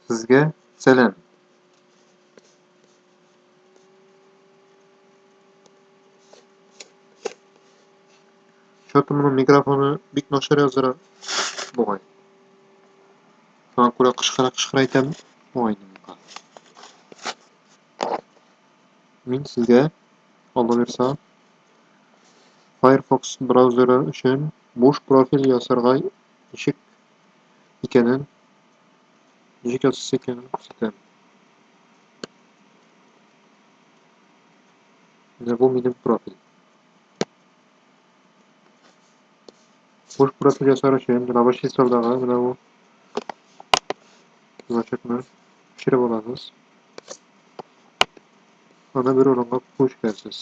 Сезгә сәлам. Чаты моның микрофоны бик начар яздыра бугай. Шуңа күрә кычкыра кычкыра әйтәм бугай инде Мин сезгә Алла бирса Firefox браузеры өчен буш профиль ясарга ничек икәнен, ничек ясыйсы икәнен күрсәтәм. Менә бу минем профиль. Буш профиль ясар өчен рабочий столдагы менә бу значокны төшереп аласыз. Аны бер урынга күчерәсез.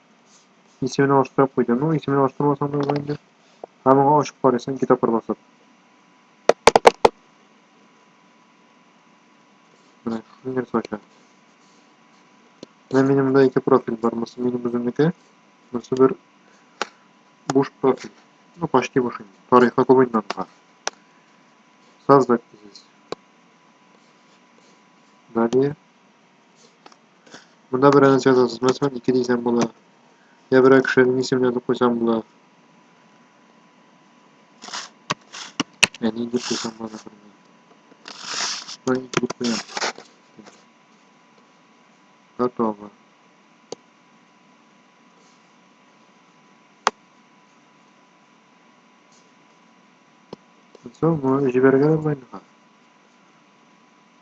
Исемен алыштырып куйды. Ну, исемен алыштырмасаң да була инде. Һәм моңа ачып карыйсың ике тапкыр басып. Менә шуны нәрсә ача. Менә минем монда ике профиль бар. Монысы минем үземнеке. Монысы бер буш профиль. Ну, почти буш инде. Тарихы күп инде анда. Создать дигез. Далее. Монда бер анонс язасыз, мәсәлән, ике дисәм була. Я берәр кешенең исемен язып куйсам була. Әни дип куйсам була, например. Шулай ике дип куям. Готово. Соң, җибәргән булмый.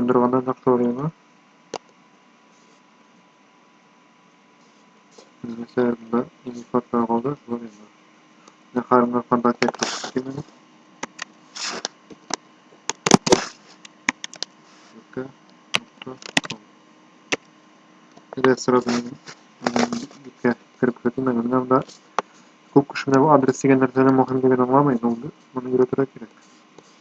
Ындырганнан акторияңа. Нәрсә бында инде фотога калды, шулай инде. Менә Харымның фантазия китәчәк кимени. Юкка. Менә сразу юкка кереп кертү менә менә монда күп кеше менә бу адрес дигән нәрсәнең мөһимлеген аңламый, но моны өйрәтергә кирәк.